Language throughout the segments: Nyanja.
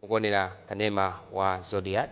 mukuonera kanema wa zodiac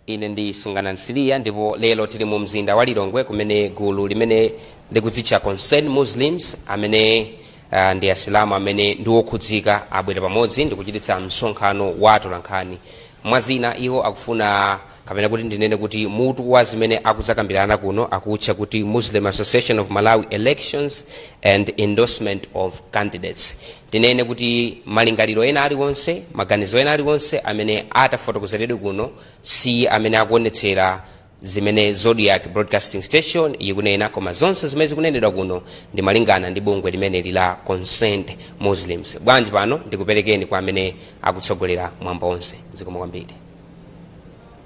Ine ndi Sungana Msiliya ndipo lero tili mu mzinda wa Lilongwe kumene gulu limene likudzitcha Concern Muslims amene ah, ndi Asilamu amene ndi okhudzika abwera pamodzi ndikuchititsa msonkhano wa atolankhani. Mwa zina iwo akufuna kapena kuti ndinene kuti mutu wa zimene akuzakambirana kuno akutcha kuti Muslim Association of Malawi Elections and Endorsement of Candidates. tinene kuti malingaliro ena aliwonse maganizo ena aliwonse amene atafotokozeredwe kuno si amene akuonetsera zimene zodiac broadcasting station ikunena koma zonse zimene zikunenedwa kuno ndi malingana ndi bungwe limeneli la concerned muslims bwanji pano ndikuperekeni kwa amene akutsogolera mwambo onse zikomo kwambiri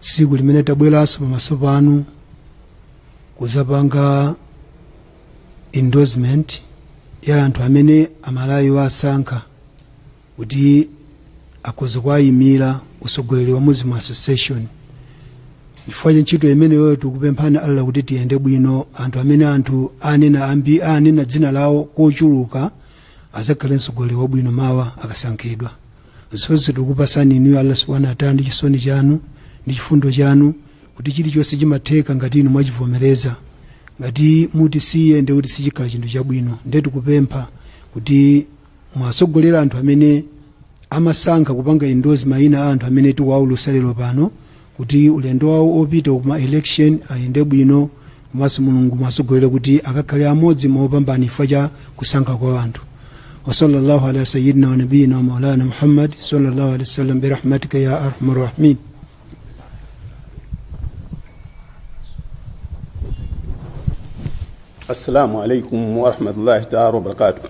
tsiku limene tabweranso pamaso panu kuzapanga endorsement ya anthu amene amalawi awasankha kuti akhoza kuwayimira usogoleri wa muslim association chifukwa cha ntchito imeneyo tikupemphani allah kuti tiyende bwino anthu amene anthu anena ambi anena dzina lao kochuluka azakhale msogoleri wabwino mawa akasankhidwa zonse tikupasani inu ya allah subhanahu wataala ndi chisoni chanu ndi chifundo chanu kuti chilichonse chimatheka ngati inu mwachivomereza ngati mutisiya ndiye kuti sichikhala chinthu chabwino ndiye tikupempha kuti muwasogolere anthu amene amasankha kupanga indozi mayina a anthu amene tikuwaulusa lero pano kuti ulendo wawo opita ku ma election ayende bwino komanso mulungu muwasogolere kuti akakhale amodzi mwa opambana chifukwa cha kusankha kwa anthu wasallallahu ala sayidina wanabiyina wa maulana muhammad sallallahu alaihi wasallam birahmatika ya arhamar rahimin assalamu alaikum warahmatullahi taala wabarakatu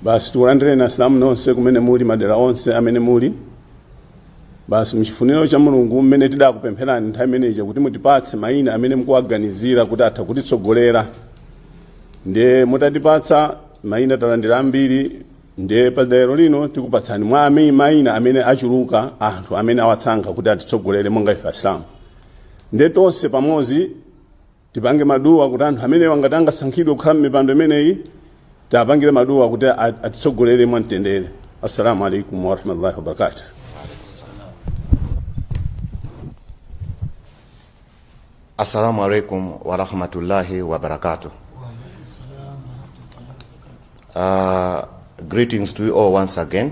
basi tikulandireni asilamu nonse kumene muli madera onse amene muli basi mchifuniro cha mulungu mmene tidakupempherani nthawi imeneyi kuti mutipatse mayina amene mukuwaganizira kuti atha kutitsogolera ndiye mutatipatsa mayina talandira ambiri ndiye pa tsiku la lero lino tikupatsani mwa amene mayina amene achuluka anthu amene awasankha kuti atitsogolere monga ife asilamu ndiye tonse pamodzi Tipange maduwa kuti anthu amenewa ngati angasankhidwe kukhala mmipando imeneyi tiapangire maduwa kuti atitsogolere mwa mtendere. Assalamu alaikum warahmatullahi wabarakatuh. Assalamu alaikum warahmatullahi wabarakatuh. Uh, greetings to you all once again.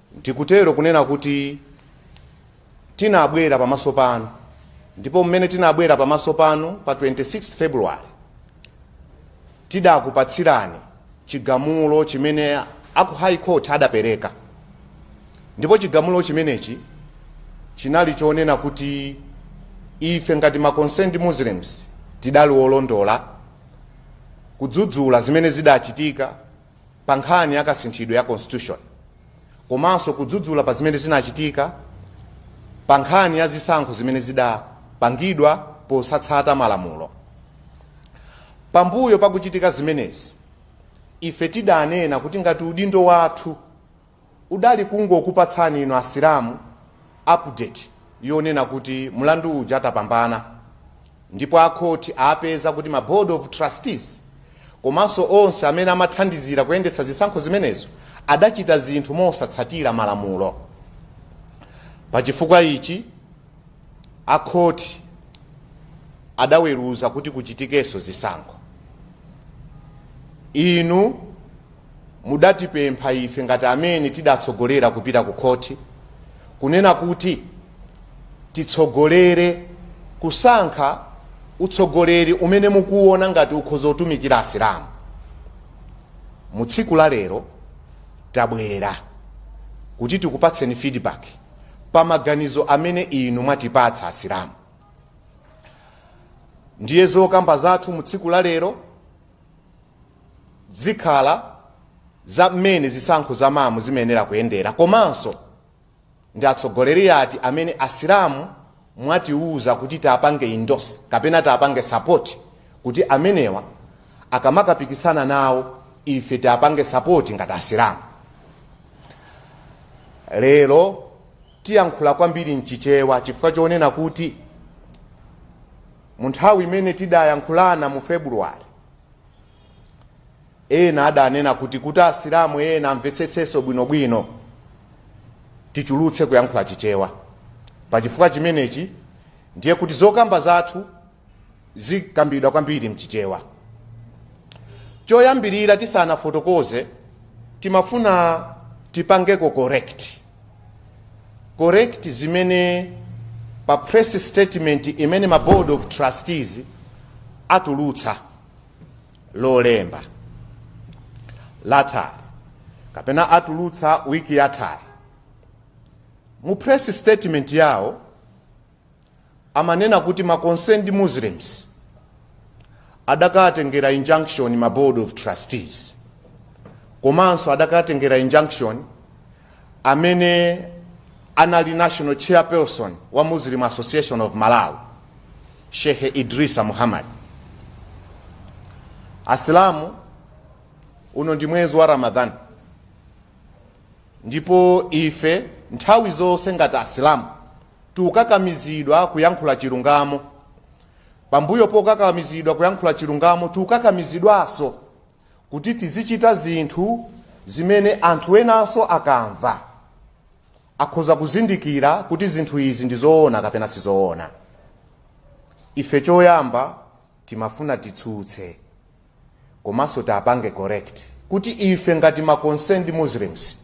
Ndikutero kunena kuti tinabwera pamaso panu ndipo mmene tinabwera pamaso panu pa 26 February tidakupatsirani chigamulo chimene aku High Court adapereka ndipo chigamulo chimenechi chinali chonena kuti ife ngati ma concerned Muslims tidali olondola kudzudzula zimene zidachitika pa nkhani ya kasinthidwe ya constitution komanso kudzudzula pa zimene zinachitika pa nkhani ya zisankho zimene zidapangidwa posatsata malamulo pambuyo pakuchitika zimenezi ife tidanena kuti ngati udindo wathu Udali kungokupatsani inu Asilamu update yonena kuti mlandu uja tapambana ndipo akhoti apeza kuti ma board of trustees komanso onse amene amathandizira kuyendetsa zisankho zimenezo adachita zinthu mosatsatira malamulo. Pachifukwa ichi, akhoti adaweruza kuti kuchitikenso zisankho. Inu. mudatipempha ife ngati amene tidatsogolera kupita ku khoti kunena kuti titsogolere kusankha utsogoleri umene mukuwona ngati ukhoza kutumikira asilamu mu tsiku la lero tabwera kuti tikupatseni feedback pa maganizo amene inu mwatipatsa asilamu ndiye zokamba zathu mu tsiku la lero zikhala za mmene zisankho za MAM zimayenera kuyendera komanso ndi atsogoleri ati amene asilamu mwatiuza kuti tiwapange endorse kapena tiwapange support kuti amenewa akamakapikisana nawo ife tiwapange support ngati asilamu lero tiyankhula kwambiri mchichewa chifukwa chonena kuti mu nthawi imene tidayankhulana mu February ena adanena kuti kuti asilamu ena amvetsetsenso bwinobwino tichulukitse kuyankhula chichewa pachifukwa chimenechi ndiye kuti zokamba zathu zikambidwa kwambiri mchichewa choyambirira tisanafotokoze timafuna tipangeko correct correct zimene pa press statement imene ma board of trustees atulutsa lolemba lathali kapena atulutsa wiki yathali mu press statement yawo amanena kuti ma concerned muslims adakatengera injunction ma board of trustees komanso adakatengera injunction amene anali national chairperson wa muslim association of malawi shehe idrisa muhammad asilamu uno ndi mwezi wa ramadhan ndipo ife nthawi zonse ngati asilamu tikukakamizidwa kuyankhula chilungamo pambuyo pokakamizidwa kuyankhula chilungamo tikukakamizidwanso kuti tizichita zinthu zimene anthu enanso akamva akhoza kuzindikira kuti zinthu izi ndi zoona kapena sizoona ife choyamba timafuna titsutse komanso tiapange correct kuti ife ngati ma concerned muslims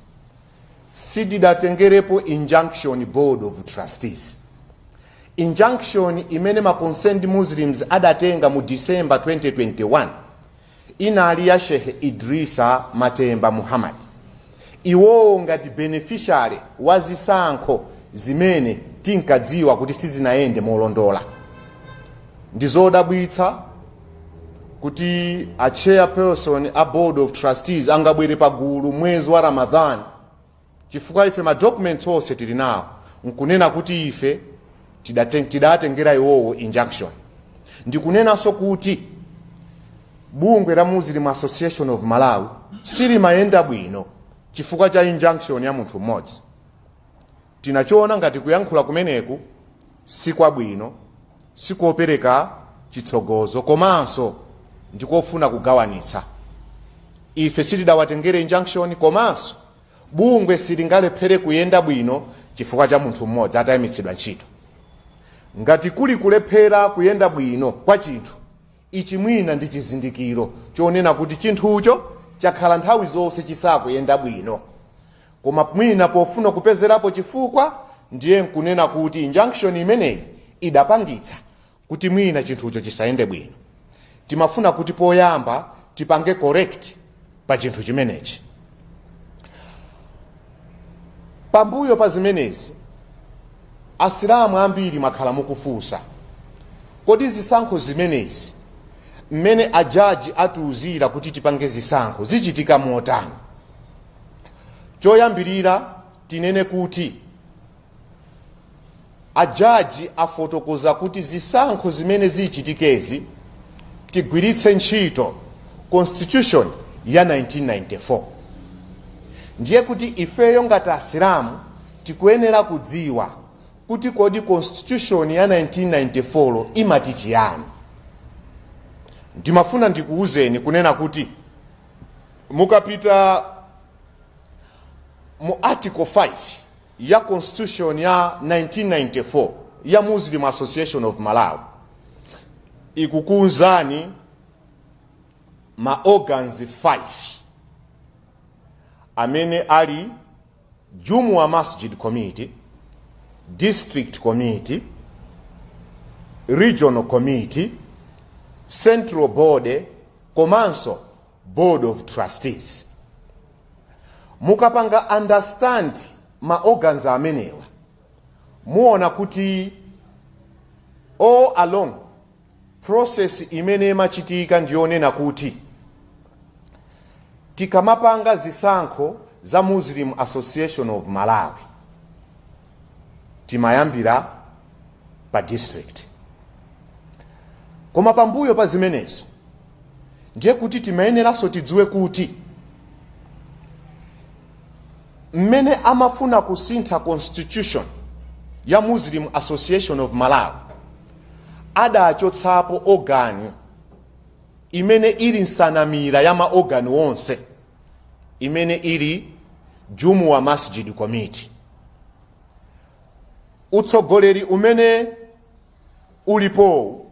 sitidatengerepo injunction board of trustees injunction imene ma concerned muslims adatenga mu december 2021 inali ya shehe idrisa matemba muhammad Iwowo ngati beneficiary wa zisankho zimene tinkadziwa kuti sizinayende molondola. Ndi zodabwitsa kuti a chairperson a board of trustees angabwere pagulu mwezi wa Ramadhan chifukwa ife ma documents onse tili nawo nkunena kuti ife tidaten- tidaatengera iwowo injunction ndikunenanso kuti bungwe la muslim association of malawi silimayenda bwino chifukwa cha injunction ya munthu mmodzi tinachiona ngati kuyankhula kumeneku sikwabwino sikopereka chitsogozo komanso ndikofuna kugawanitsa ife sitidawatengere injunction komanso bungwe silingalephere kuyenda bwino chifukwa cha munthu mmodzi atayimitsidwa ntchito ngati kuli kulephera kuyenda bwino kwa chinthu ichi mwina ndi chizindikiro chonena kuti chinthucho chakhala nthawi zonse chisakuyenda bwino koma mwina pofuna kupezerapo chifukwa ndiye nkunena kuti injunction imeneyi idapangitsa kuti mwina chinthucho chisayende bwino timafuna kuti poyamba tipange correct pa chinthu chimenechi pambuyo pa zimenezi asilamu ambiri mwakhala mukufunsa kodi zisankho zimenezi mmene ajaji atiuzira kuti tipange zisankho zichitika motani choyambirira tinene kuti ajaji afotokoza kuti zisankho zimene zichitikezi tigwiritse ntchito constitution ya 1994 ndiye kuti ifeyo ngati asilamu tikuyenera kudziwa kuti kodi constitution ya 1994 imati chiyani ndimafuna ndikuwuzeni kunena kuti mukapita mu article 5 ya Constitution ya 1994 ya Muslim Association of Malawi ikukunzani ma organs 5 amene ali Jumu'a Masjid Committee, District Committee, Regional Committee, Central Body komanso board of trustees mukapanga understand ma organs amenewa muona kuti all along process imene imachitika ndiyonena kuti tikamapanga zisankho za muslim association of malawi timayambira pa district koma pambuyo pa zimenezo ndiye kuti timayeneranso tidziwe kuti mmene amafuna kusintha constitution ya muslim association of malawi adachotsapo organi imene ili nsanamira ya maorgani onse imene ili jumuwa masjid committee utsogoleri umene ulipowu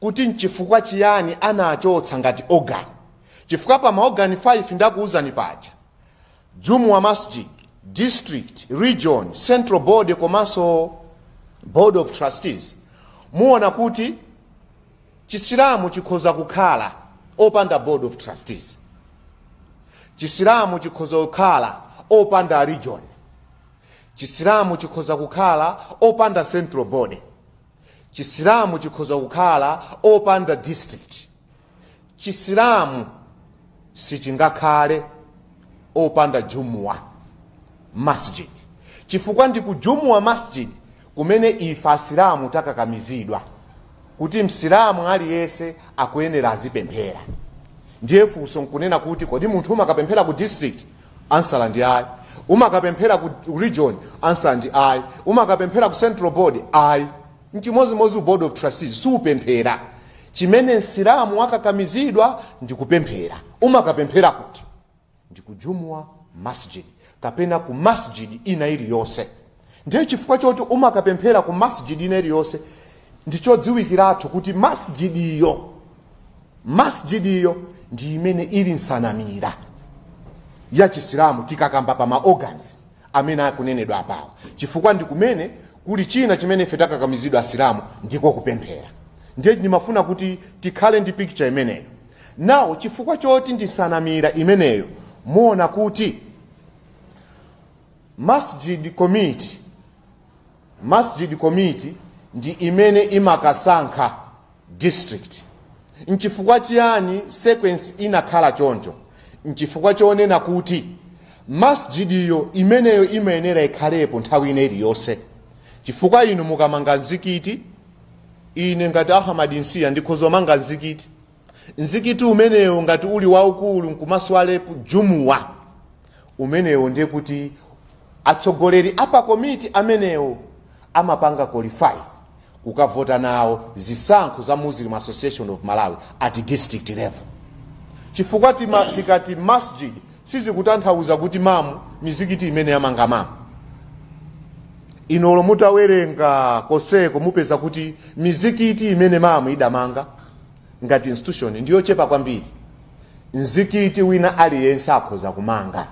kuti nchifukwa chiyani anachotsa ngati organ chifukwa pa maorgani 5 ndakuwuzani paja jumuwa masjid district region central board komanso board of trustees muona kuti chisilamu chikhoza kukhala opanda board of trustees chisilamu chikhoza kukhala opanda region chisilamu chikhoza kukhala opanda central board chisilamu chikhoza kukhala opanda district chisilamu sichingakhale opanda jumuwa masjid chifukwa ndi ku jumuwa masjid kumene ife asilamu takakamizidwa kuti msilamu aliyense akuyenera azipemphera ndiye funso nkunena kuti kodi munthu umakapemphera ku district answer ndi ayi umakapemphera ku ku region answer ndi ayi umakapemphera ku central board ayi nchimozimozi board of trustees siupemphera chimene msilamu wakakamizidwa ndi kupemphera umakapemphera kuti ndi ku jumuwa masjid kapena ku masjid ina iliyonse ndiye chifukwa choti umakapemphera ku masjid ina iliyonse ndichodziwikiratu kuti masjid iyo masjid iyo ndi imene ili nsanamira ya chisilamu tikakamba pa ma organs amene akunenedwa apawa chifukwa ndi kumene kuli china chimene ife takakamizidwa asilamu ndiko kupemphera ndiye ndimafuna kuti tikhale ndi picture imeneyo now chifukwa choti ndi nsanamira imeneyo muona kuti Masjid Committee Masjid Committee ndi imene imakasankha district. Nchifukwa chiyani sequence inakhala choncho? Nchifukwa chonena kuti masjid iyo imeneyo imayenera ikhalepo nthawi ina iliyonse, chifukwa inu mukamanga mzikiti, ine ngati Ahmad Nsiya ndikhoza kumanga mzikiti mzikiti umenewo ngati uli waukulu nkumaswalepo jumuwa umenewo ndiye kuti atsogoleri apakomiti amenewo amapanga qualify kukavota nawo zisankho za muslim association of malawi at district level chifukwa tikati masjid sizikutanthauza kuti mamu mizikiti imene yamanga mamu inolo mutawerenga konseko mupeza kuti mizikiti imene mamu idamanga ngati institution ndi yochepa kwambiri mzikiti wina aliyense akhoza kumanga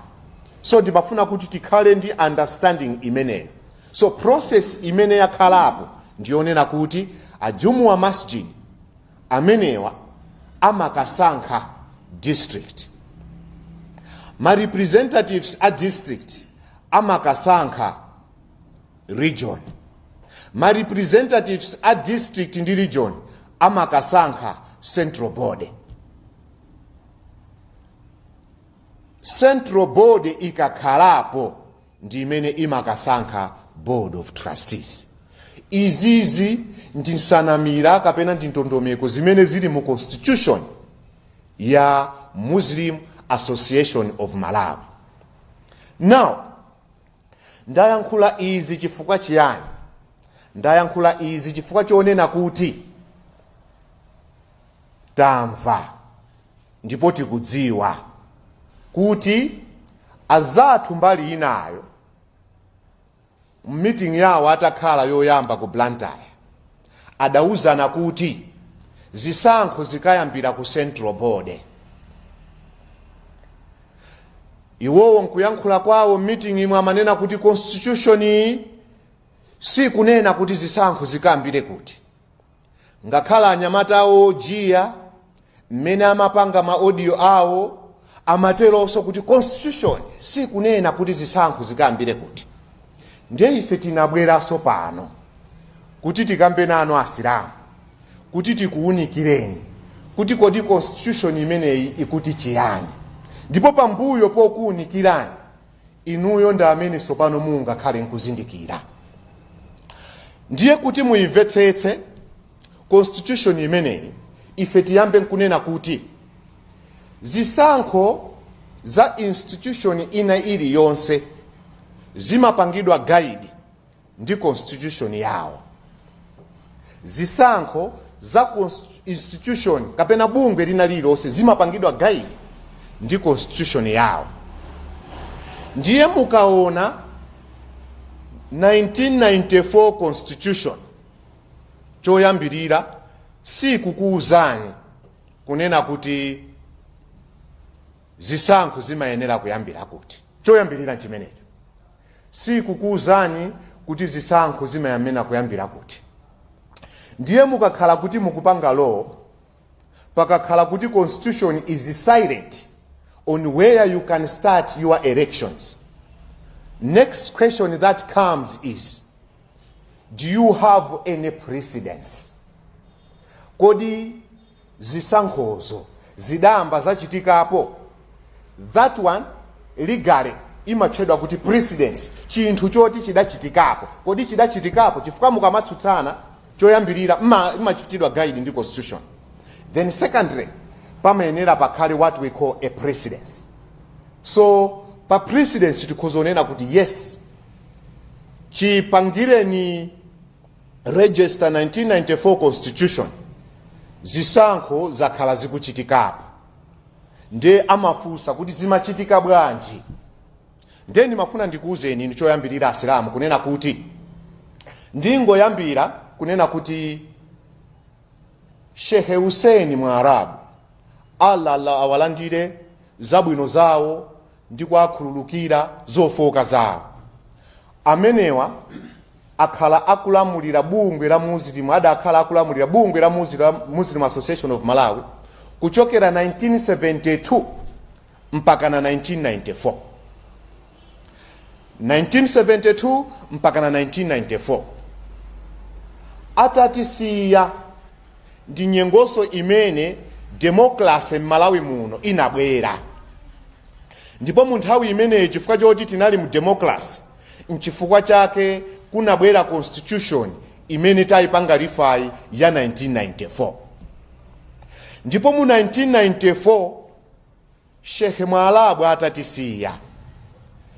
so ndimafuna kuti tikhale ndi understanding imeneyo so process imene yakhalapo ndiyonena kuti ajumuwa masjid amenewa amakasankha district ma representatives a district amakasankha region. Ma representatives a district ndi region amakasankha central board. Central board ikakhalapo ndi imene imakasankha board of trustees. Izizi ndi nsanamira kapena ndi ndondomeko zimene zili mu constitution ya Muslim Association of Malawi. Now, ndayankhula izi chifukwa chiyani ndayankhula izi chifukwa chonena kuti tamva ndipo tikudziwa kuti azathu mbali inayo m'meeting yawo atakhala yoyamba ku blantyre Adauzana kuti zisankho zikayambira ku Central Board. Iwowo nkuyankhula kwawo m'meeting imwe amanena kuti constitution iyi sikunena kuti zisankho zikayambire kuti. Ngakhale anyamata awo ojiya mmene amapanga ma audio awo amateronso kuti constitution sikunena kuti zisankho zikayambire kuti ndiye ife tinabweranso pano kuti tikambe nanu asilamu kuti tikuwunikireni kuti kodi constitution imeneyi ikuti chiyani ndipo pambuyo pokuwunikirani inuyo ndi amene tsopano mungakhale nkuzindikira ndiye kuti muyimvetsetse constitution imeneyi ife tiyambe nkunena kuti zisankho za institution ina iliyonse zimapangidwa guided ndi constitution yawo zisankho za const- institution kapena bungwe lina lililonse zimapangidwa guided ndi constitution yawo ndiye mukaona 1994 constitution choyambirira sikukuuzani kunena kuti zisankho zimayenera kuyambira kuti choyambirira chimenecho sikukuuzani kuti zisankho zimayenera kuyambira kuti ndiye mukakhala kuti mukupanga law pakakhala kuti constitution is silent on where you can start your elections next question that comes is do you have any precedence kodi zisankhozo zidayamba zachitikapo that one legally imatchedwa kuti precedence chinthu choti chidachitikapo kodi chidachitikapo chifukwa mukamatsutsana choyambirira mma- mmachitidwa guided ndi constitution then secondly pamayenera pakhale what we call a precedence so pa precedence tikhoza kunena kuti yes chipangireni register 1994 constitution zisankho zakhala zikuchitikapo nde amafunsa kuti zimachitika bwanji nde ndimafuna ndikuwuzeni inu choyambirira asilamu kunena kuti ndingoyambira kunena kuti shehe huseni mwalabu allah allah awalandire zabwino zawo ndi kuwakhululukira zofooka zawo. Amenewa akhala akulamulira bungwe la Muslim adakhala akulamulira bungwe la Muslim, Muslim Association of Malawi kuchokera 1972 mpakana 1994. 1972 mpakana 1994 atatisiya ndi nyengonso imene demokalase m'malawi muno inabwera ndipo mu nthawi imeneyi chifukwa choti tinali mu demokalase nchifukwa chake kunabwera constitution imene tayipanga refer ya 1994 ndipo mu 1994 Sheikh Mwalabu atatisiya,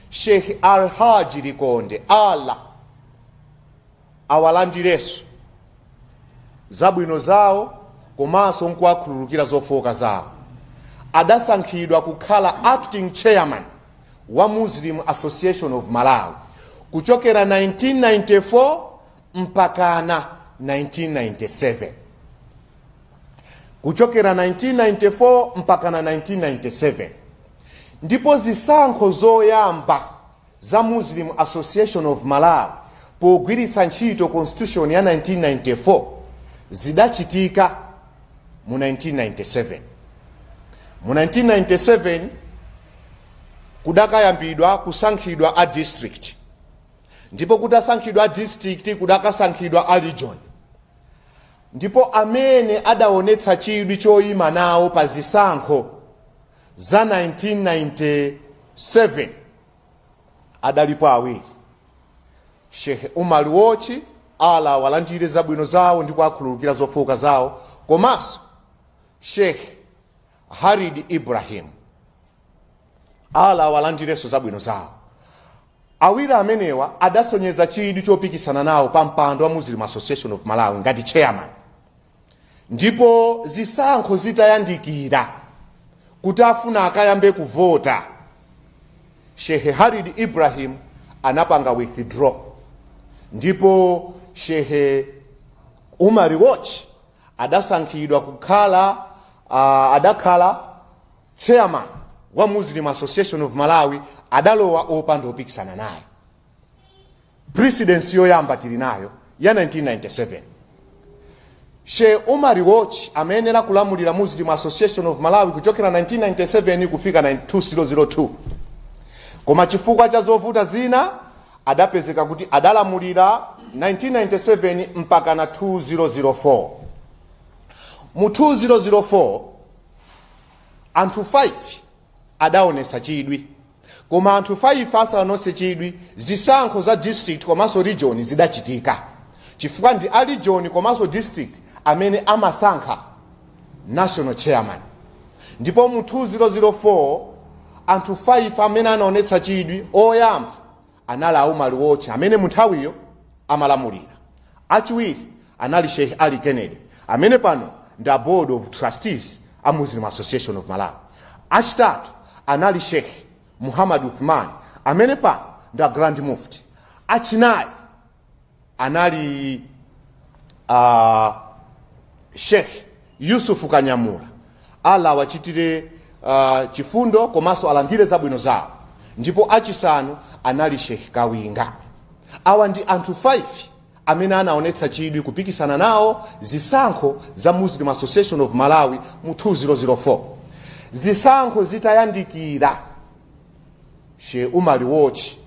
Sheikh Alhaji Likonde Allah awalandirenso zabwino zawo komanso nkuwakhululukira zofooka zawo, adasankhidwa kukhala acting chairman wa Muslim Association of Malawi kuchokera 1994 mpakana 1997. kuchokera 1994 mpaka na 1997 ndipo zisankho zoyamba za muslim association of malawi pogwiritsa ntchito constitution ya 1994 zidachitika mu 1997 mu 1997 kudakayambidwa kusankhidwa a district ndipo kutasankhidwa a district kudakasankhidwa a region Ndipo amene adaonetsa chidwi choima nawo pa zisankho za 1997 adalipo awiri, Sheikh Umar Wochi, Allah awalandire zabwino zawo ndi kuwakhululukira zofooka zawo, komanso Sheikh Khalid Ibrahim, Allah awalandirenso zabwino zawo. Awiri amenewa adasonyeza chidwi chopikisana nawo pa mpando wa Muslim Association of Malawi ngati chairman ndipo zisankho zitayandikira kuti afuna akayambe kuvota, Shehe Khalid Ibrahim anapanga withdraw ndipo Shehe Umar Wochi adasankhidwa kukhala uh, adakhala Chairman wa Muslim Association of Malawi adalowa opanda opikisana naye. Precedence yoyamba tili nayo ya 1997. Shehe Umar Wochi amayenera kulamulira Muslim Association of Malawi kuchokera 1997 kufika 2002. Koma chifukwa cha zovuta zina adapezeka kuti adalamulira 1997 mpaka na 2004. Mu 2004 anthu 5 adaonetsa chidwi koma anthu 5 asaonetse chidwi zisankho za district komanso region zidachitika chifukwa ndi a region komanso district amene amasankha national chairman ndipo mu 2004 anthu 5 amene anaonetsa chidwi oyamba anali a Umali Wochi amene munthawiyo amalamulira. Achiwiri anali Sheikh Ali Kennedy amene pano ndi a Board of Trustees a Muslim Association of Malawi. Achitatu anali Sheikh Muhammad Uthman amene pano ndi a Grand Mufti. Achinayi anali uh, sheikh yusufu kanyamula allah awachitire uh, chifundo komanso alandire zabwino zawo ndipo achisanu anali sheikh kawinga awa ndi anthu 5 amene anaonetsa chidwi kupikisana nawo zisankho za muslim association of malawi mu 2004 zisankho zitayandikira she umali wochi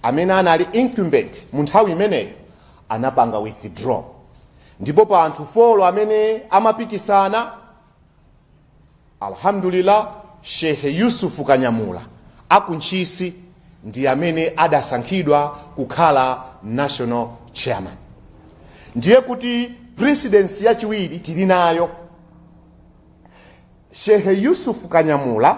amene anali incumbent mu nthawi imeneyo anapanga withdraw ndipo pa anthu folo amene amapikisana alhamdulillah shehe yusufu kanyamula akuntchisi ndi amene adasankhidwa kukhala national chairman ndiye kuti presidency yachiwiri tili nayo shehe yusufu kanyamula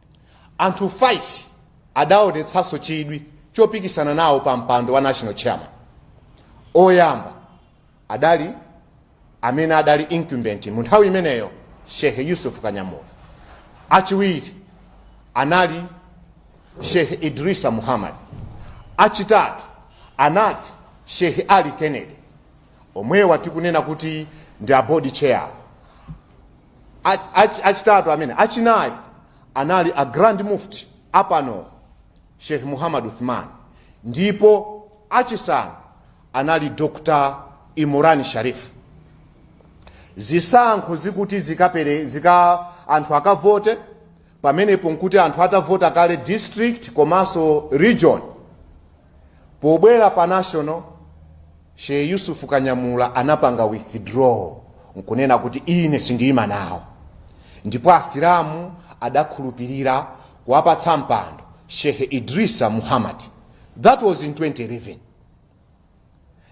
anthu 5 adaonetsanso chidwi chopikisana nawo pa mpando wa national chairman oyamba adali amene adali incumbent mu nthawi imeneyo shehe yusuf kanyamula achiwiri anali shehe idrisa muhammad achitatu anali shehe ali kennedy omwewa tikunena kuti ndi a bodi chair achitatu amene achinayi anali a grand mufti apano sheikh muhammad uthman ndipo achisanu anali dr imurani sharif zisankho zikuti zikapere zika anthu akavote pamenepo nkuti anthu atavota kale district komanso region pobwera pa national Shehe Yusuf Kanyamula anapanga withdraw nkunena kuti ine sindiyima nawo ndipo asilamu adakhulupirira kuwapatsa mpando Shehe Idrisa Muhammad that was in 2011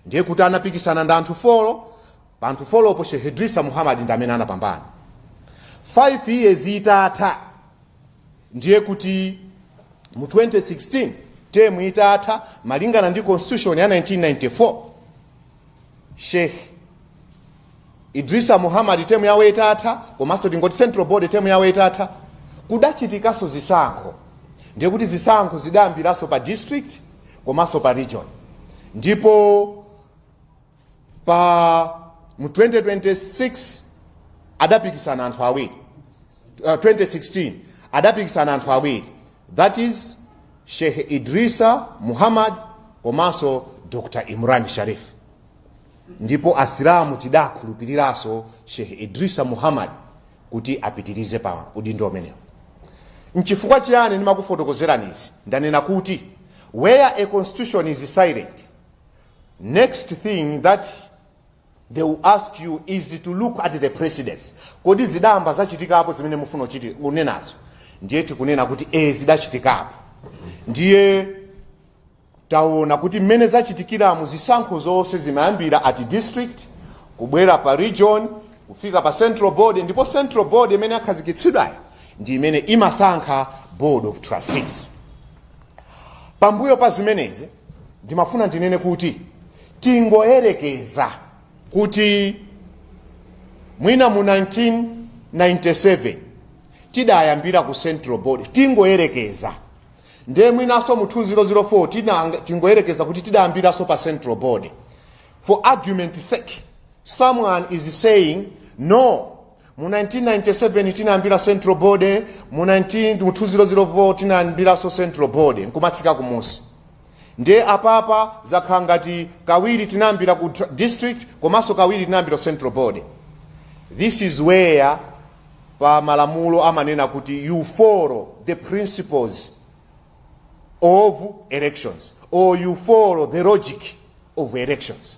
ndiye kuti anapikisana ndi anthu folo pa anthu folopo Shehe Idrisa Muhammad ndi amene anapambana 5 years itatha ndiye kuti mu 2016 temu itatha malingana ndi constitution ya 1994 sheikh idrisa muhammad temu yawo itatha komanso tingoti central board temu yawo itatha kudachitikanso zisankho ndiye kuti zisankho zidayambiranso pa district komanso pa region ndipo pa mu 2026 adapikisana anthu awiri uh, 2016 adapikisana anthu awiri that is sheikh idrisa muhammad komanso dr imran sharif ndipo asilamu tidakhulupiriranso sheikh idrisa muhammad kuti apitirize pa udindo umenewu nchifukwa chiyani ndimakufotokozerani izi ndanena kuti where a constitution is silent Next thing that they will ask you is to look at the precedence. Kodi zidayamba zachitikapo zimene mufuna kunenazo? Ndiye tikunena kuti eh zidachitikapo. Ndiye taona kuti mmene zachitikiramu zisankho zonse zimayambira at district kubwera pa region kufika pa central board ndipo central board imene akhazikitsidwayo ndi imene imasankha board of trustees pambuyo pa zimenezi ndimafuna ndinene kuti tingoyerekeza kuti mwina mu 1997 tidayambira ku central board tingoyerekeza nde mwinaso mu 2004 tinanga- tingoyerekeza kuti tidayambiraso pa central board for argument sake someone is saying no mu 1997 tinayambira central board mu 19 mu 2004 tinayambiranso central board nkumatsika kumusi ndiye apapa zakhala ngati kawiri tinayambira ku tra- district komanso kawiri tinayambira ku central board this is where pa malamulo amanena kuti you follow the principles of elections or you follow the logic of elections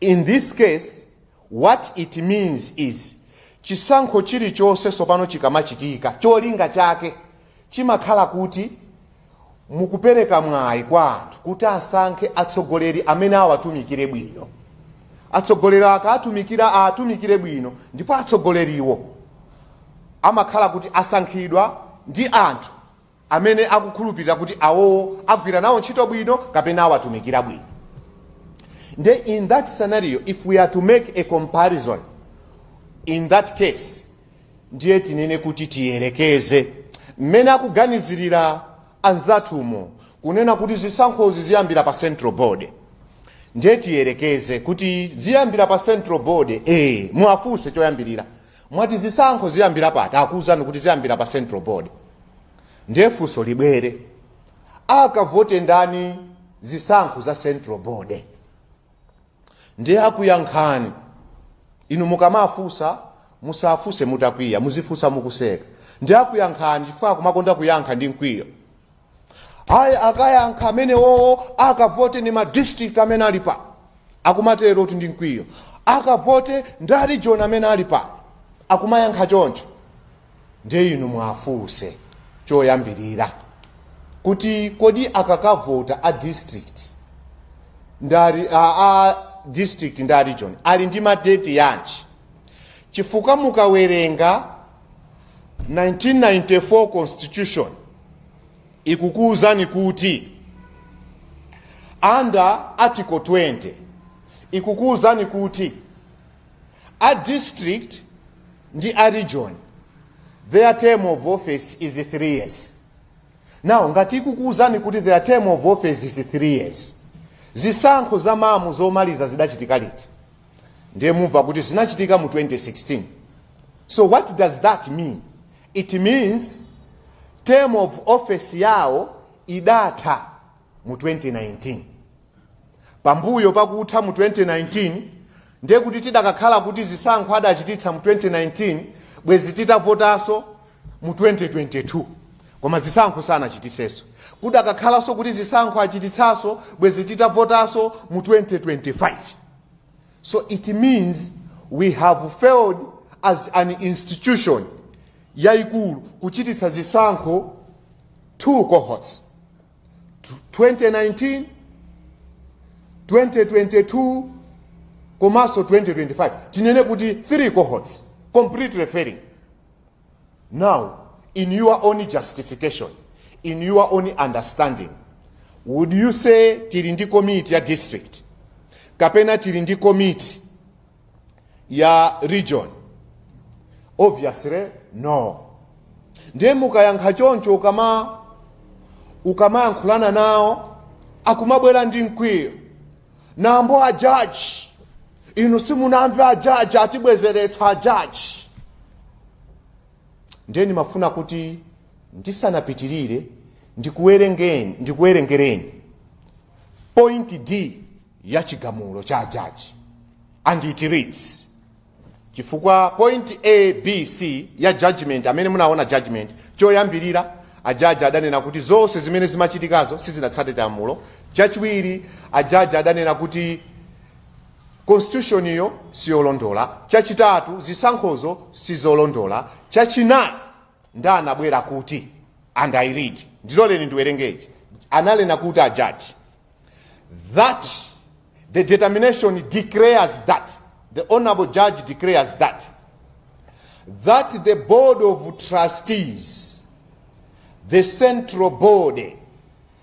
in this case what it means is chisankho chilichonse sopano chikamachitika cholinga chake chimakhala kuti mukupereka mwayi kwa anthu kuti asankhe atsogoleri amene awatumikire bwino atsogoleri akawatumikira awatumikire bwino ndipo atsogoleriwo amakhala kuti asankhidwa ndi anthu amene akukhulupirira kuti awowo agwira nawo ntchito bwino kapena awatumikira bwino nde in that scenario if we are to make a comparison in that case ndiye tinene kuti tiyerekeze mmene akuganizirira anzathumo kunena kuti zisankhozi ziyambira pa central board ndiye tiyerekeze kuti ziyambira pa central board eh muwafunse choyambirira mwati zisankho ziyambira pati akuwuzani kuti ziyambira pa central board ndiye funso libwere akavote ndani zisankho za central board ndiye akuyankhani inu mukamafunsa musafunse mutakwiya muzifunsa mukuseka ndiye akuyankhani chifukwa akumakonda kuyankha ndi mkwiyo ayi akayankha amenewowo akavote ni madistrict amene ali pano akumatero kuti ndi mkwiyo akavote ndi arijoni amene ali pano akumayankha choncho ndiye inu mwafunse choyambirira kuti kodi akakavota a district ndari a, a district ndi a region ali ndi mandeti yanji chifukwa mukawerenga 1994 constitution ikukuwuzani kuti under article 20 ikukuwuzani kuti a district ndi a region their term of office is 3 years now ngati ikukuwuzani kuti their term of office is 3 years zisankho za MAM zomaliza zidachitika liti ndiye mumva kuti zinachitika mu 2016 so what does that mean it means term of office yawo idatha mu 2019 pambuyo pakutha mu 2019 ndiye kuti tidakakhala kuti zisankho adachititsa mu 2019 bwezi titavotanso mu 2022 koma zisankho sanachititsenso kudakakhalanso kuti zisankho achititsanso bwezi titavotanso mu 2025 So it means we have failed as an institution yaikulu kuchititsa zisankho two cohorts 2019 2022 komanso 2025 tinene kuti three cohorts completely failing Now, in your own justification, in your own understanding, would you say tili ndi komiti ya district kapena tili ndi komiti ya region? Obviously, no. Ndiye mukayankha choncho ukama ukamayankhulana nawo akumabwera ndi mkwiyo nambo a judge inu simunamve ajaji atibwezeretsa ajaji ndiye ndimafuna kuti ndisanapitirire ndikuwerengeni ndikuwerengereni point d ya chigamulo cha ajaji and it reads chifukwa point a b c ya judgment amene munaona judgment choyambirira ajaji adanena kuti zonse zimene zimachitikazo sizinatsate lamulo chachiwiri ajaji adanena kuti constitution iyo siyolondola chachitatu zisankhozo sizolondola chachinayi nda anabwera kuti and i read ndiloleni ndiwerenge analena kuti a judge that the determination declares that the honorable judge declares that that the board of trustees the central body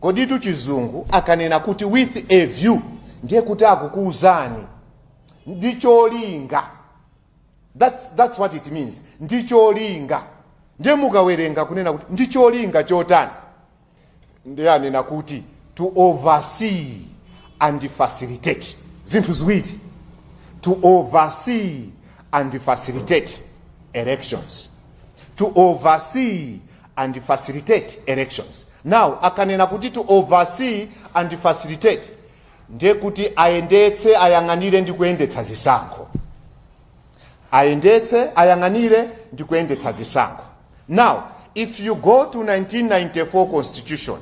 Koditu chizungu akanena kuti with a view ndiye kuti akukuuzani ndi cholinga. That's, that's what it means ndi cholinga. Ndiye mukawerenga kunena kuti ndi cholinga chotani, ndiye anena kuti to oversee and facilitate zinthu ziwiri to oversee and facilitate elections to oversee and facilitate elections. Now akanena kuti to oversee and facilitate ndiye kuti ayendetse ayang'anire ndi kuyendetsa zisankho ayendetse ayang'anire ndi kuyendetsa zisankho now if you go to 1994 constitution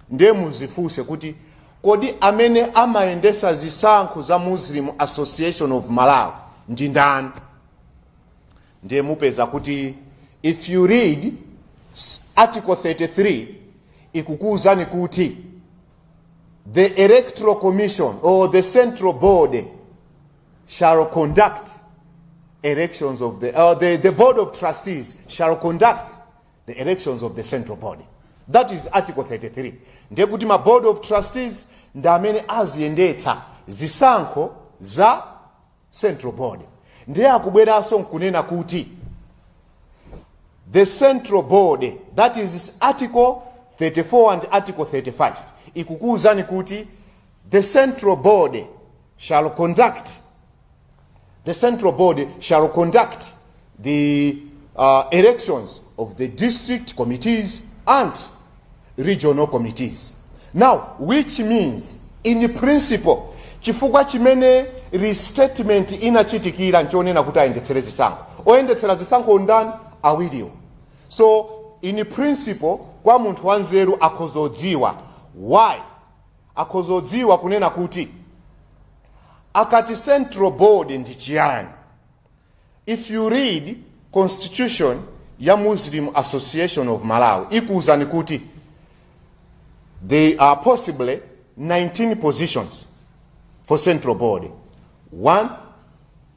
ndiye muzifunse kuti kodi amene amayendetsa zisankho za muslim association of malawi ndi ndani ndiye mupeza kuti if you read article 33 ikukuwuzani kuti the electoral commission or the central board shall conduct elections of the, uh, the, the board of trustees shall conduct the elections of the central board that is article 33 ndiye kuti ma board of trustees ndi amene aziyendetsa zisankho za central board ndiye akubweranso nkunena kuti the central board that is article 34 and article 35 ikukuwuzani kuti the central board shall conduct the central board shall conduct the uh, elections of the district committees and regional committees. Now, which means in principle, chifukwa chimene reinstatement inachitikira nchonena kuti ayendetsere zisankho oyendetsera zisankho ndani awiriwo so in principle kwa munthu wanzeru akhozodziwa why akhozodziwa kunena kuti akati central board ndi chiyani If you read constitution ya Muslim Association of Malawi ikuwuzani kuti there are possibly 19 positions for central board. One,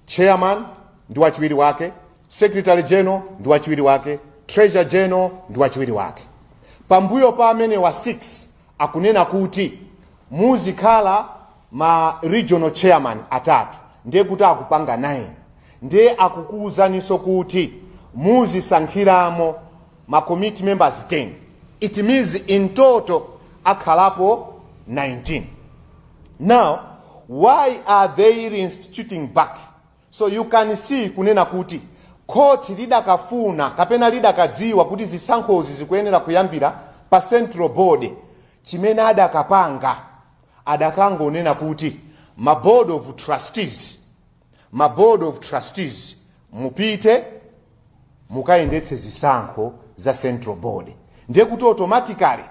chairman ndi wachiwiri wake, secretary general ndi wachiwiri wake, treasurer general ndi wachiwiri wake. Pambuyo pa amenewa 6 akunena kuti muzikhala ma regional chairman atatu ndiye kuti akupanga 9 ndiye akukuwuzaninso kuti muzisankhiramo ma committee members 10 it means in total akhalapo 19 now why are they reinstituting back So you can see kunena kuti khoti lidakafuna kapena lidakadziwa kuti zisankhozi zikuyenera kuyambira pa central board chimene adakapanga adakangonena kuti ma board of trustees ma board of trustees mupite mukayendetse zisankho za central board ndiye kuti automatically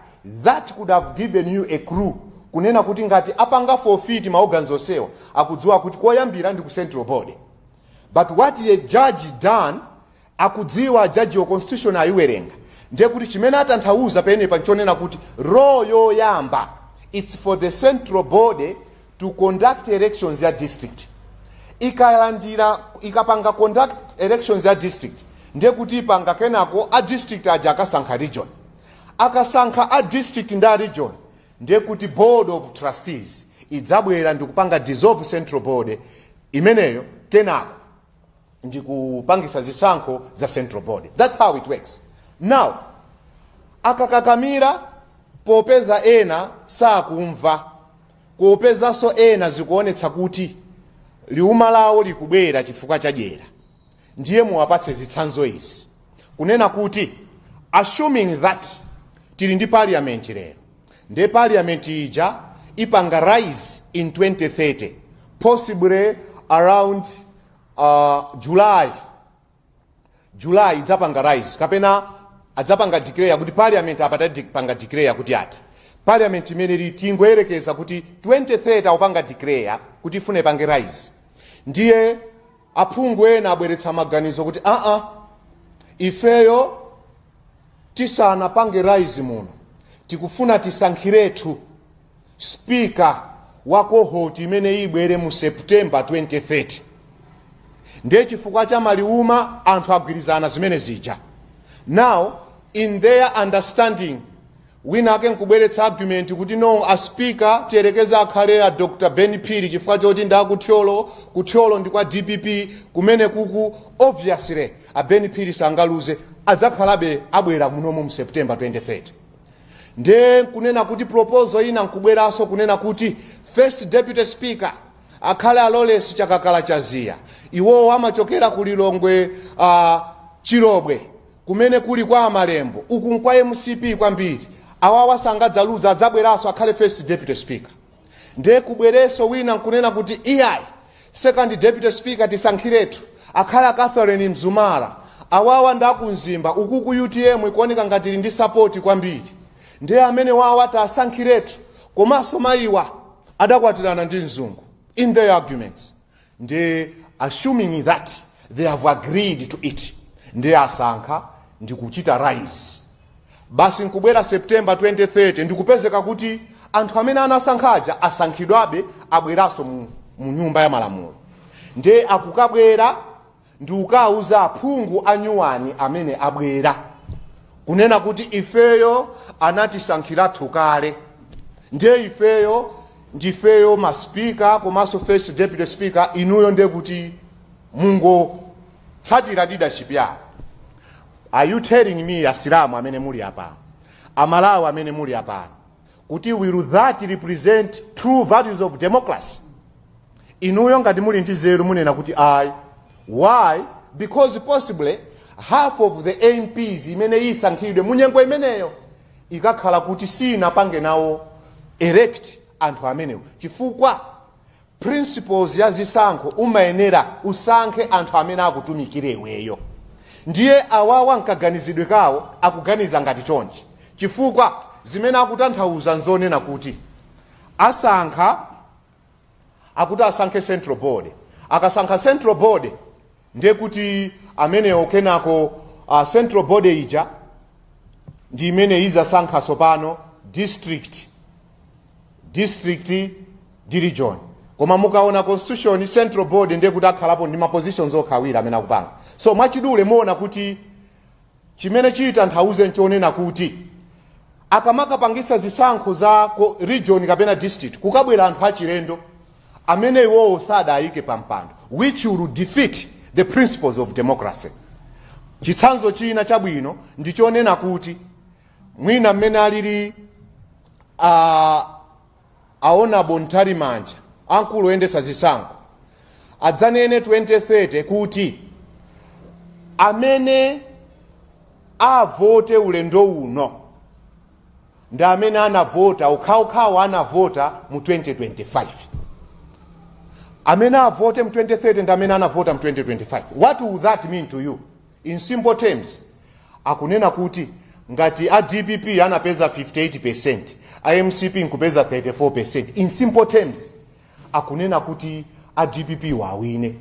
that would have given you a clue kunena kuti ngati apanga forfeit maorgans onsewa akudziwa kuti koyambira ndi ku central board but what the judge done akudziwa judge wa constitution ayiwerenga ndiye kuti chimene atanthauza penepa nchonena kuti role yoyamba it's for the central board to conduct elections ya district ikalandira ikapanga conduct elections ya district ndiye kuti ipanga kenako a district aja akasankha region akasankha a district ndi a region ndiye kuti board of trustees idzabwera ndikupanga dissolve central board imeneyo kenako ndikupangisa zisankho za central board that's how it works now akakakamira popeza ena sakumva Popezanso ena zikuonetsa kuti liuma lawo likubwera chifukwa cha dyera ndiye muwapatse zitsanzo izi kunena kuti assuming that tili ndi parliament lero ndiye parliament ija ipanga rise in 2030 possibly around uh, July july idzapanga rise kapena adzapanga declare kuti parliament apa tapanga declare kuti yatha parliament imeneyi tingoyerekeza kuti 23 akupanga declare kuti ifune ipange rise ndiye aphungu ena abweretsa maganizo kuti aa ifeyo tisanapange rise muno tikufuna tisankhiretu speaker wa kohoti imene ibwere mu september 2030 ndiye chifukwa cha maliuma anthu agwirizana zimene zija now in their understanding wina ake nkubweretsa argument kuti no a speaker tiyerekeza akhale a dr ben phiri chifukwa choti ndi akuthyolo kuthyolo ndi kwa dpp kumenekuku obviously a ben phiri sangaluze adzakhalabe abwera munomo mu september 2030 ndiye nkunena kuti proposal ina nkubweranso kunena kuti first deputy speaker akhale alolesi chakakala chaziya iwowo amachokera ku lilongwe uh, chilobwe kumene kuli kwa amalembo uku nkwa mcp kwambiri awawa sangadzaluza adzabweranso akhale first deputy speaker nde kubweranso wina nkunena kuti iyayi second deputy speaker tisankhiretu akhale a catherine mzumara awawa ndi akumzimba ukuku utm ikuoneka ngati ili ndi sapoti kwambiri ndiye amene awawa tasankhiretu komanso mayiwa adakwatirana ndi mzungu in their arguments ndiye assuming that they have agreed to it ndiye asankha ndikuchita rise basi nkubwera september 2030 ndikupezeka kuti anthu amene anasankhaja asankhidwabe abweranso mu, mu nyumba ya malamulo ndiye akukabwera ndikukauza aphungu anyuwani amene abwera kunena kuti ifeyo anatisankhirathu kale ndiye ifeyo ndifeyo ma speaker komanso first deputy speaker inuyo ndiye kuti mungotsatira leadership yawo are you telling me asilamu amene muli apano amalawi amene muli apano kuti will that represent true values of democracy inuyo ngati muli ndi zeru munena kuti ayi why because possibly half of the mps imene isankhidwe munyengo imeneyo ikakhala kuti sinapange nawo elect anthu amenewo chifukwa principles ya zisankho umayenera usankhe anthu amene akutumikire iweyo ndiye awawa mkaganizidwe kawo akuganiza ngati chonchi chifukwa zimene akutanthauza nzonena kuti asankha akuti asankhe central board akasankha central board ndiye kuti amenewo kenako uh, central board ija ndi imene izasankha sopano district district ndi region koma mukaona constitution central board ndiye kuti akhalapo ndi mapositions okha awiri amene akupanga so mwachidule muona kuti chimene chitanthauze nchonena kuti akamakapangitsa zisankho za ku region kapena district kukabwera anthu achilendo amene iwowo sadayike pa mpando which will defeat the principles of democracy chitsanzo china chabwino ndichonena kuti mwina mmene alili a annabel mtalimanja amkulu oyendetsa zisankho adzanene 2030 kuti amene avote ulendo uno ndi amene anavota okhaokha anavota mu 2025 amene avote mu 2030 ndi amene anavota mu 2025 what will that mean to you In simple terms, akunena kuti ngati a dpp anapeza 58% a mcp nkupeza 34% in simple terms akunena kuti a dpp wawine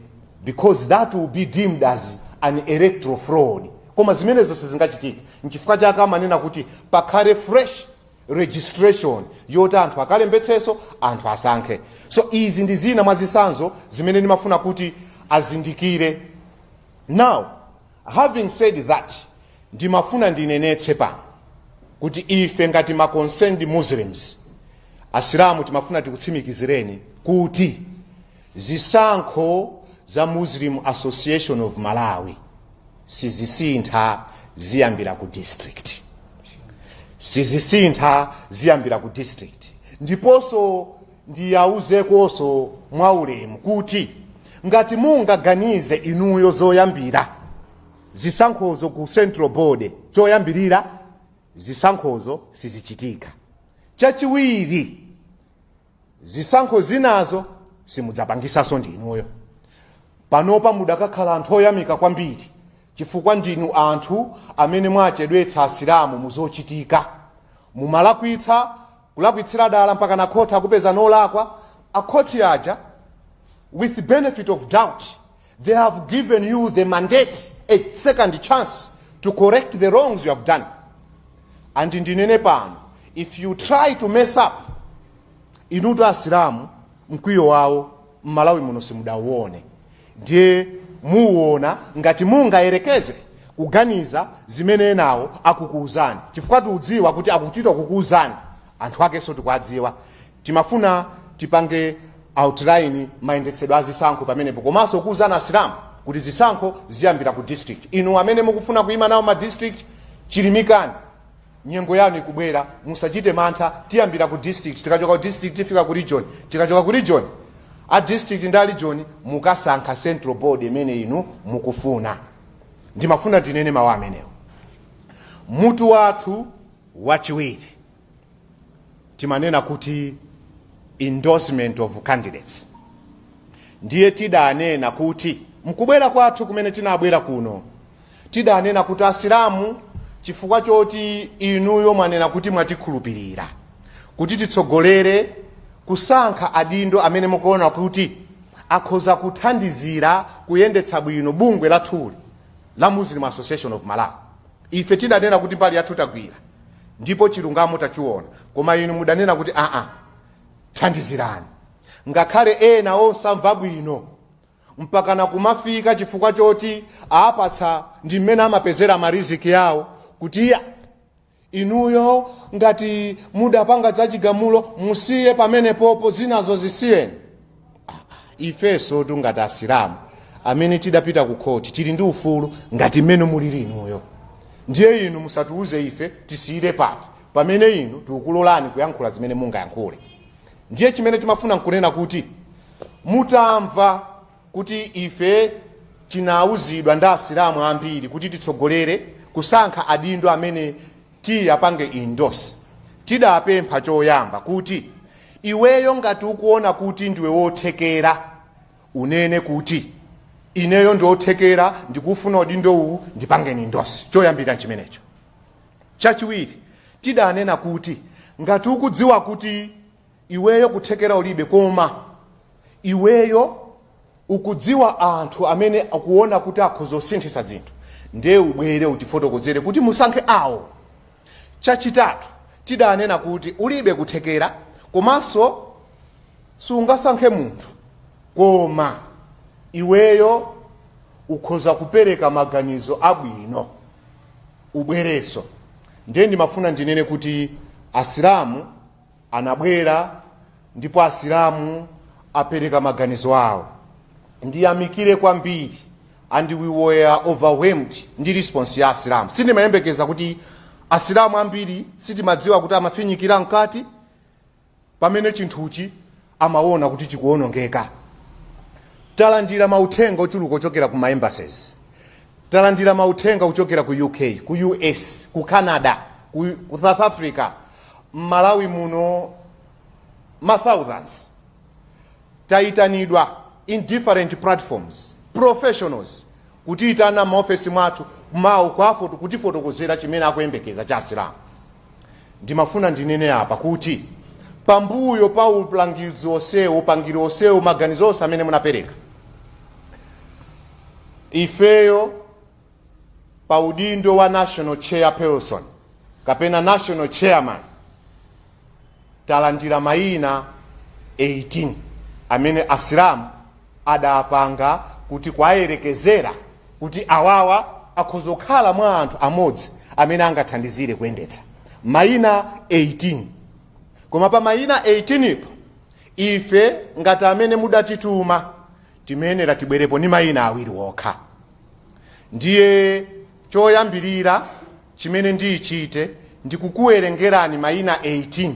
because that will be deemed as an electoral fraud koma zimenezo sizingachitike nchifukwa chake amanena kuti pakhale fresh registration yoti anthu akalembetseso anthu asankhe so izi ndi zina mwa zitsanzo zimene ndimafuna kuti azindikire Now, having said that, ndimafuna ndinenetse pano kuti ife ngati ma concerned Muslims, Asilamu timafuna tikutsimikizireni kuti zisankho za Muslim Association of Malawi sizisintha ziyambira ku district sizisintha ziyambira ku district ndiponso ndiwauzekonso mwaulemu kuti ngati mungaganize inuyo zoyambira zisankhozo ku central board choyambirira zisankhozo sizichitika chachiwiri zisankho zinazo simudzapangisaso ndi inuyo panopa mudakakhala anthu oyamika kwambiri chifukwa ndinu anthu amene mwachedwetsa asilamu muzochitika mumalakwitsa Kulakwitsira dala mpakana a court akupezani olakwa, a court aja with benefit of doubt they have given you the mandate a second chance to correct the wrongs you have done and ndinene pano if you try to mess up inutu asilamu mkwiyo wawo mmalawi muno simudauone Ndiye muona ngati mungayerekeze kuganiza zimene enawo akukuuzani, chifukwa tikudziwa kuti akuchita kukuuzani, anthu akenso tikuwadziwa. Timafuna tipange outline mayendetsedwe a zisankho pamenepo, komanso kuuzani Asilamu kuti zisankho ziyambira ku district. Inu amene mukufuna kuima nawo ma district, chirimikani. nyengo yanu ikubwera musachite mantha tiyambira ku district tikachoka ku district tifika ku region tikachoka ku region a district ndi a region mukasankha central board imene inu mukufuna ndimafuna ndinene mawu amenewo mutu wathu wachiwiri timanena kuti endorsement of candidates ndiye tidanena kuti mkubwera kwathu kumene tinabwera kuno tidanena kuti asilamu chifukwa choti inuyo mwanena kuti mwatikhulupirira kuti titsogolere kusankha adindo amene mukuona kuti akhoza kuthandizira kuyendetsa bwino bungwe lathuli la muslim association of malawi ife tidanena kuti mbali yathu tagwira ndipo chilungamo tachiona koma inu mudanena kuti aa thandizirani ngakhale ena osamva bwino mpakana kumafika chifukwa choti apatsa ndi mmene amapezera mariziki yawo kuti iya inuyo ngati mudapanga zachigamulo musiye pamenepopo zinazo zisiyeni Ah, ah, ifenso tu ngati asilamu amene tidapita ku khoti tili ndi ufulu ngati mmene mulili inuyo ndiye inu musatiuze ife tisiyire pati pamene inu tikukulolani kuyankhula zimene mungayankhule ndiye chimene timafuna nkunena kuti Mutamva kuti ife tinauzidwa ndi asilamu ambiri kuti titsogolere kusankha adindo amene tiwapange endorse, tidapempha choyamba kuti iweyo ngati ukuona kuti ndiwe wothekera unene kuti ineyo ndiothekera ndikufuna udindo uwu ndipangeni endorse. Choyambirira nchimenecho. Chachiwiri, tidanena kuti ngati ukudziwa kuti iweyo kuthekera ulibe koma iweyo ukudziwa anthu amene akuona kuti akhoza kusinthitsa zinthu ndiye ubwere utifotokozere kuti musankhe awo chachitatu tidanena kuti ulibe kuthekera komanso sungasankhe munthu koma iweyo ukhoza kupereka maganizo abwino ubwerenso ndiye ndimafuna ndinene kuti asilamu anabwera ndipo asilamu apereka maganizo awo ndiyamikire kwambiri and we were overwhelmed ndi response ya asilamu sindimayembekeza kuti asilamu ambiri sitimadziwa kuti amafinyikira mkati pamene chinthuchi amaona kuti chikuonongeka talandira mauthenga ochuluka ochokera ku ma embassies Talandira mauthenga kuchokera ku UK, ku US, ku Canada, ku ku South Africa, m'Malawi muno ma thousands. Tayitanidwa in different platforms, professionals kutiyitana m'maofesi mwathu mawu kwafoto kutifotokozera chimene akuyembekeza cha Asilamu. ndimafuna ndinene apa kuti pambuyo pa ulangizi onsewo upangiri onsewo maganizo onse amene munapereka ifeyo pa udindo wa national chairperson kapena national chairman talandira mayina 18 amene asilamu adapanga kuti kuwayerekezera kuti awawa akhoza kukhala mwa anthu amodzi amene angathandizire kuyendetsa mayina 18 koma pa mayina 18 po ife ngati amene mudatituma timayenera tibwerepo ni mayina awiri wokha ndiye choyambirira Chimene ndiichite ndi kukuwerengerani maina 18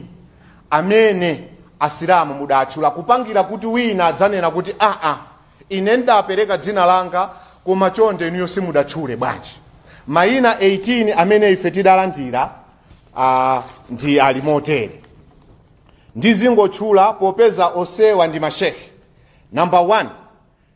amene Asilamu mudaatchula, kupangira kuti wina adzanena kuti, Aa! Ine ndidaapereka dzina langa, koma nde inuyo simudatchule bwanji? Maina 18 amene ife tidalandira aa, ndi ali motere. Ndizingotchula popeza osewa ndi masheikh. Namba 1,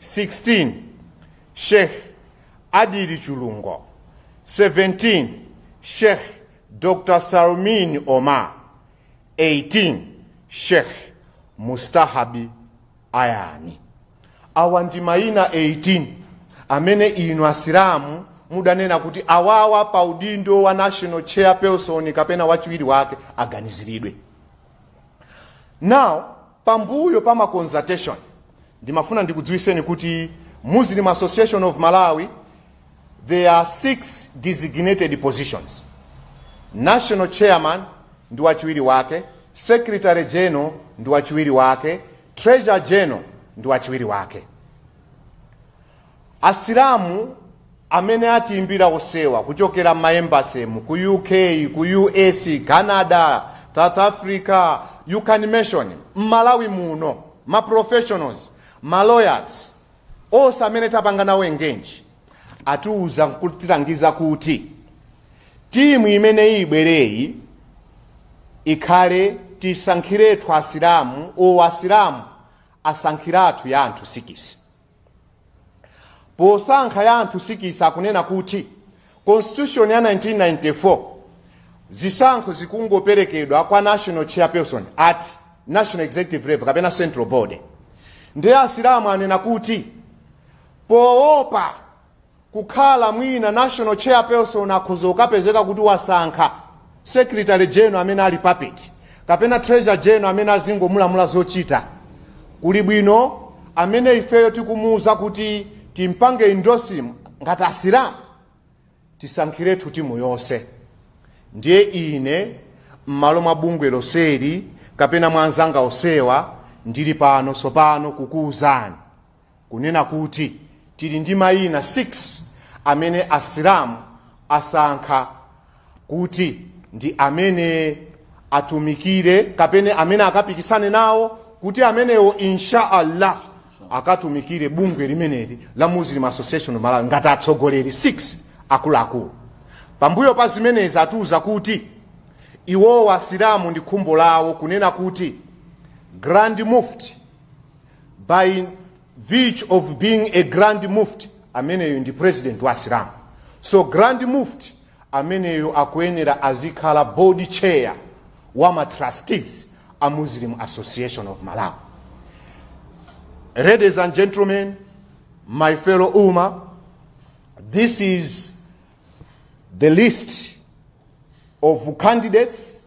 16 Sheikh Adili Chulungo 17 Sheikh Dr. Salmin Omar 18 Sheikh Mustahab Ayami awa ndi mayina 18 amene inu asilamu mudanena kuti awawa pa udindo wa national chairperson kapena wachiwiri wake aganiziridwe now Pambuyo pa ma consultations ndimafuna ndikudziwiseni kuti Muslim Association of Malawi there are six designated positions national chairman ndi wachiwiri wake secretary general ndi wachiwiri wake treasurer general ndi wachiwiri wake Asilamu amene atiimbira osewa kuchokera m'maembasemu ku uk ku us canada south africa you can mention mmalawi muno ma professionals ma lawyers onse amene tapanga nawo engage atiuza nkutilangiza kuti timu imeneyi ibwereyi ikhale tisankhiretu asilamu or asilamu asankhiretu ya anthu sikisi posankha ya anthu sikisi akunena kuti constitution ya 1994 zisankho zikungoperekedwa kwa national chairperson at national executive level kapena central body ndiye asilamu anena kuti poopa kukhala mwina national chairperson akhoza kukapezeka kuti wasankha secretary general amene ali puppet kapena treasurer general amene azingomulamula zochita kuli bwino amene ifeyo tikumuuza kuti timpange endorse ngati asilamu tisankhiretu timu yonse ndiye ine m'malo mwa bungwe loseli kapena mwa azanga osewa ndili pano tsopano kukuwuzani kunena kuti tili ndi mayina 6 amene Asilamu asankha kuti ndi amene atumikire kapena amene akapikisane nawo kuti amenewo insha Allah akatumikire bungwe limeneli la Muslim Association of Malawi ngati atsogoleri 6 akuluakulu. Pambuyo pa zimenezi atiuza kuti iwowo Asilamu ndi khumbo lawo kunena kuti Grand Mufti by virtue of being a grand mufti ameneyo ndi president wa asilamu so grand mufti ameneyo akuyenera azikhala board chair wa ma trustees a muslim association of malawi ladies and gentlemen my fellow umma this is the list of candidates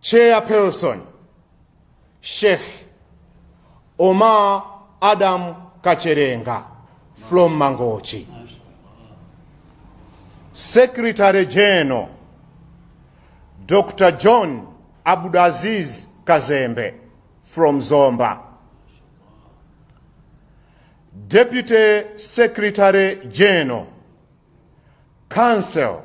Chairperson, Sheikh Omar Adam Kacherenga from Mangochi. Secretary General, Dr. John Abdulaziz Kazembe from Zomba. Deputy Secretary General, Council,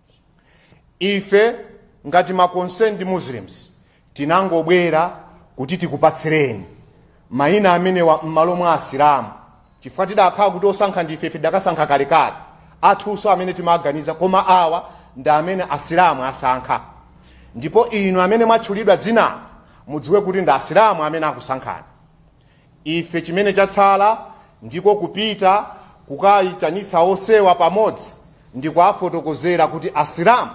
ife ngati ma concerned muslims tinangobwera kuti tikupatsireni mayina amenewa m'malo mwa asilamu chifukwa tidakhala kuti osankha ndife ife tidakasankha kalekale athuwo amene timaganiza koma awa ndi amene asilamu asankha ndipo inu amene mwatchulidwa dzina mudziwe kuti ndi asilamu amene akusankhani Ife chimene chatsala ndiko kupita kukayitanitsa onsewa pamodzi ndikuwafotokozera kuti Asilamu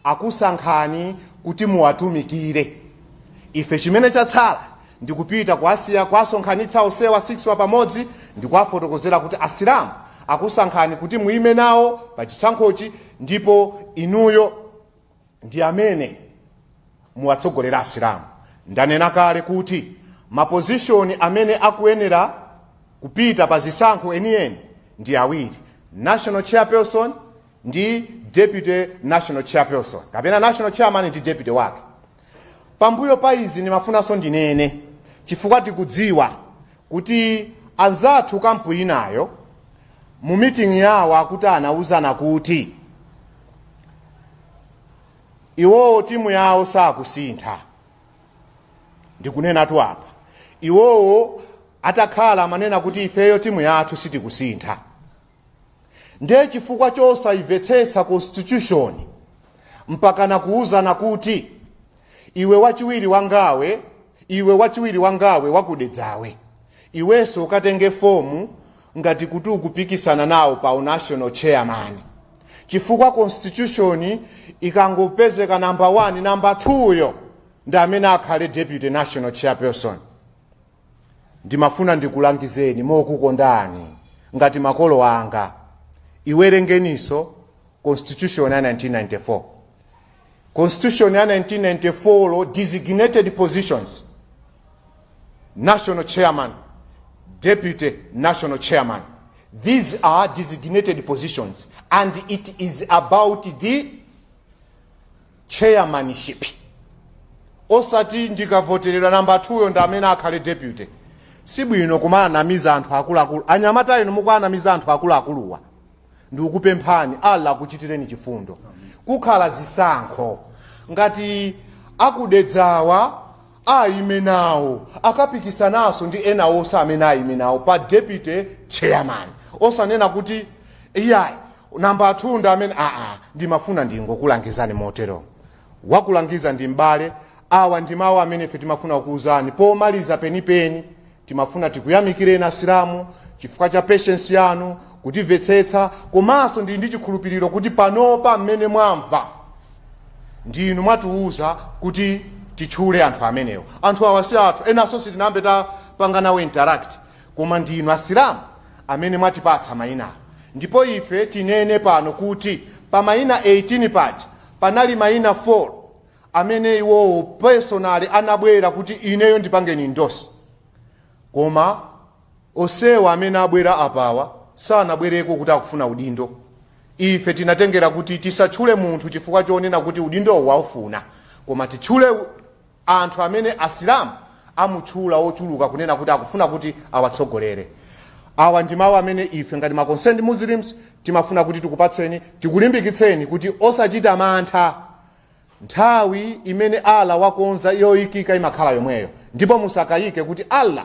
akusankhani kuti muwatumikire. Ife chimene chatsala ndikupita kuwasonkhanitsa onsewa 6 wa pamodzi ndikuwafotokozera kuti Asilamu akusankhani kuti muime nawo pa chisankhochi ndipo inuyo ndi amene muwatsogolera asilamu ndanena kale kuti mapozishoni amene akuyenera kupita pa zisankho enieni ndi awiri national chairperson ndi deputy national chairperson kapena national chairman ndi deputy wake pambuyo pa izi ndimafunanso ndinene chifukwa tikudziwa kuti anzathu kampu inayo mu miting'i yawo akuti anauzana kuti iwowo timu yawo sakusintha ndikunenatu apa iwowo atakhala amanena kuti ifeyo timu yathu sitikusintha ndiye chifukwa chosayimvetsetsa constitution mpakana kuwuzana kuti iwe wachiwiri wangawe iwe wachiwiri wangawe wakudedzawe iwenso ukatenge fomu ngati kuti ukupikisana nawo pa unational chairman chifukwa constitution ikangopezeka namba 1 namba 2 yo ndi amene akhale deputy national chairperson ndimafuna ndikulangizeni mokukondani ngati makolo anga iwerengeniso constitution ya 1994 constitution ya 1994 yo designated positions national chairman deputy national chairman these are designated positions and it is about the chairmanship osati ndikavoteredwa namba 2 yo ndi amene akhale deputy sibwino kumawanamiza anthu akuluakulu anyamata inu mukuwanamiza anthu akuluakuluwa ndikukupemphani allah akuchitireni chifundo kukhala zisankho ngati a ku Dedzawa aime nawo akapikisanaso ndi ena onse amene aime nawo pa deputy chairman osanena kuti iyayi namba yathu ndi amene aa ndimafuna ndingokulangizani motero Wakulangiza ndi m'bale. Awa ndi mawu amene ife timafuna kukuwuzani pomaliza penipeni. Timafuna tikuyamikireni Asilamu chifukwa cha patience yanu, kutimvetsetsa komanso ndili ndi chikhulupiriro kuti panopa mmene mwamva ndi inu mwatiwuza kuti titchule anthu amenewo. Anthu awa si athu, enanso sitinayambe tapanga nawo interact, koma ndi inu Asilamu amene mwatipatsa mayinawa ndipo ife tinene pano kuti pa mayina 18 paja Panali maina 4 amene iwowo personally anabwera kuti ineyo ndipangeni endorse koma onsewa amene abwera apawa sanabwereko kuti akufuna udindo. Ife tinatengera kuti tisatchule munthu chifukwa chonena kuti udindowu akuufuna koma titchule anthu amene Asilamu amutchula ochuluka kunena kuti akufuna kuti awatsogolere. Awa ndi mawu amene ife ngati ma concerned Muslims timafuna kuti tikupatseni, tikulimbikitseni kuti osachita mantha. Nthawi imene Allah wakonza yoikika imakhala yomweyo, ndipo musakayike kuti Allah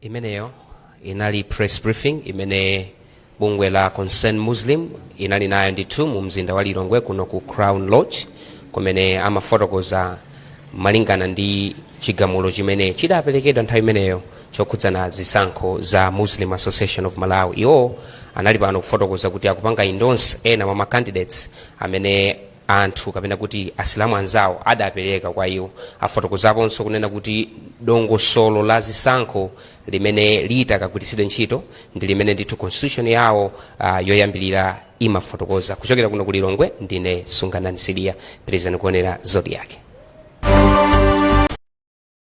imeneyo inali press briefing imene bungwe la concerned muslim inali nayo ndithu mu mzinda wa lilongwe kuno ku crown lodge kumene amafotokoza malingana ndi chigamulo chimene chidaperekedwa nthawi imeneyo chokhudzana zisankho za muslim association of malawi iwo anali pano kufotokoza kuti akupanga endorse ena mwa macandidates amene anthu kapena kuti asilamu anzawo adapereka kwa iwo afotokozaponso kunena kuti dongosolo la zisankho limene litakagwiritsidwe ntchito ndi limene ndithu constitution yawo uh, yoyambirira imafotokoza kuchokera kuno ku lilongwe ndine sunganani sidiya pitirizani kuonera zodiak